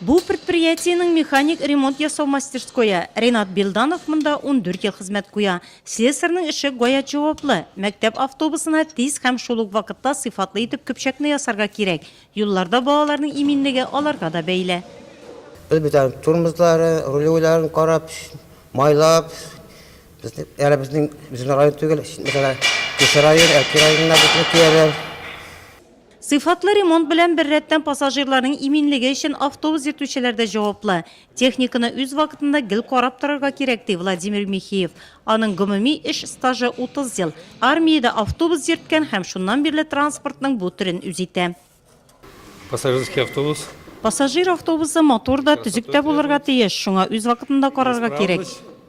Бу предприятиенең механик ремонт ясау мастерское. Ренат Билданов монда ундүрт ел хезмәт куя. Слесарьның эше гаять җаваплы. Мәктәп автобусына тиз һәм шул ук вакытта сыйфатлы итеп көпчәкне ясарга кирәк. Юлларда балаларның иминлеге аларга да бәйле. Без бит аның тормозларын, рулевойларын карап, майлап, әле безнең район түгел, мәсәлән, күрше район, Әлки районына безне куялар. Сыйфатлы ремонт белән беррәттән пассажирларның иминлеге өчен автобус йөртүчеләр дә җаваплы. Техниканы үз вакытында гел карап торырга кирәк, ди Владимир Михеев. Аның гомуми эш стажы, 30 ел. Армиядә автобус йөрткән һәм шуннан бирле транспортның бу төрен үз итә. Пассажирский автобус. Пассажир автобусы матур да, төзек тә булырга тиеш, шуңа үз вакытында карарга кирәк.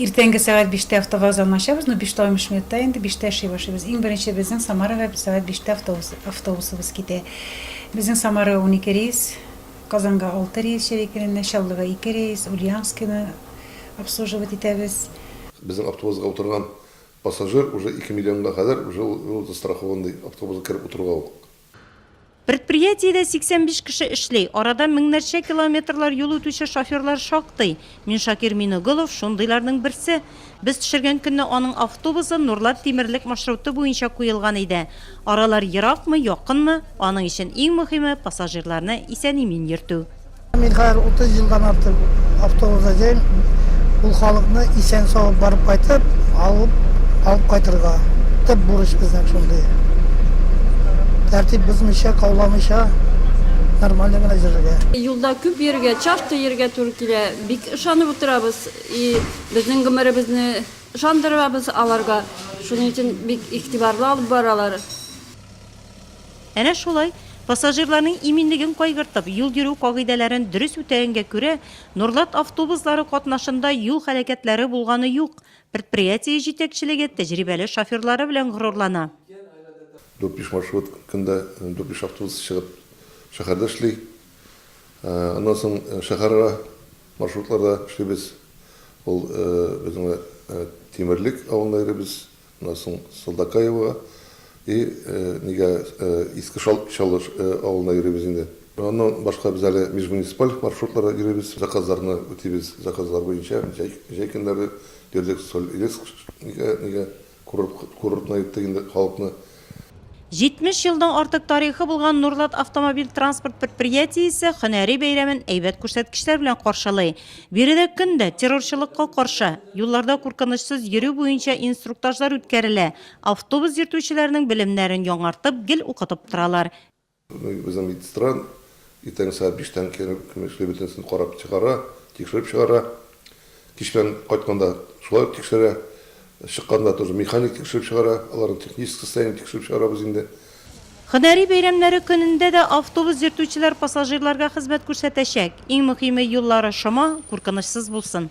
Иртәнге сәгать биштә автовокзалны ачабыз, ну, биш тә алтмыш минутта инде, биштә эшли башлыйбыз. Иң беренче безнең Самарага сәгать биштә автобус, автобусыбыз китә. Безнең Самарага унике рейс, Казанга алты рейс җәй көненә, Чаллыга ике рейс, Ульяновскины обслуживать итәбез. Безнең автобусга утырган пассажир уже ике миллионга кадәр уже ул, ул застрахован ди автобуска кереп утыруга ук. Предприятиедә 85 кеше эшли, арада меңнәрчә километрлар юл үтүче шоферлар шактый. Миншакир Миноглов шундыйларның берсе. Без төшергән көнне аның автобусы Нурлат тимерлек маршруты буенча куелган иде. Аралар еракмы, якынмы, аның өчен иң мөһиме, пассажирларны исән-имин йөртү. Мин хәзер 30 елдан артык автобузда йөрим. Ул халыкны исән-сау барып кайтып, алып, алып кайтырга. Төп бурыч безнең шундый. Тәртип бозмыйча, кауламыйча, нормально гына йөрергә. Юлда күп йөрергә, часто йөрергә туры килә. Бик ышанып утырабыз и безнең гомеребезне ышандырабыз аларга. Шуның өчен бик игътибарлы алып баралар. Әнә шулай, пассажирларның иминлеген кайгыртып, юл йөрү кагыйдәләрен дөрес үтәгәнгә күрә, Нурлат автобуслары катнашында юл һәлакәтләре булганы юк. Предприятие җитәкчелеге тәҗрибәле шоферлары белән горурлана. Дүртбиш маршрут көндә дүртбиш автобус чыгып шәһәрдә эшли. Аннан соң шәһәрара маршрутларда эшлибез. Ул безнең Тимерлек авылына йөрибез. Аннан соң Сылдакаевага, и, нигә Иске Чаллы авылына йөрибез инде. Аннан башка без әле межмуниципаль маршрутларда йөрибез, заказларны үтибез, заказлар буенча җәй көннәре йөрдек, Соль-Илецк нигә курортына йөрттек инде халыкны. 70 елдан артык тарихы булган Нурлат автомобиль-транспорт предприятиесе һөнәри бәйрәмен әйбәт күрсәткечләр белән каршылый. Биредә көн дә террорчылыкка каршы, юлларда куркынычсыз йөрү буенча инструктажлар үткәрелә, автобус йөртүчеләрнең белемнәрен яңартып, гел укытып торалар. Безнең медстран иртәнге сәгать биштән көн эшли, бөтенесен карап чыгара, тикшереп чыгара. Кичтән кайтканда шулай ук тикшерә. Чыкканда тоже механик тикшереп чыгара, аларның технический состояниен тикшереп чыгарабыз инде. Һөнәри бәйрәмнәре көнендә дә автобус йөртүчеләр пассажирларга хезмәт күрсәтәчәк. Иң мөхиме, юллары шома, куркынычсыз булсын.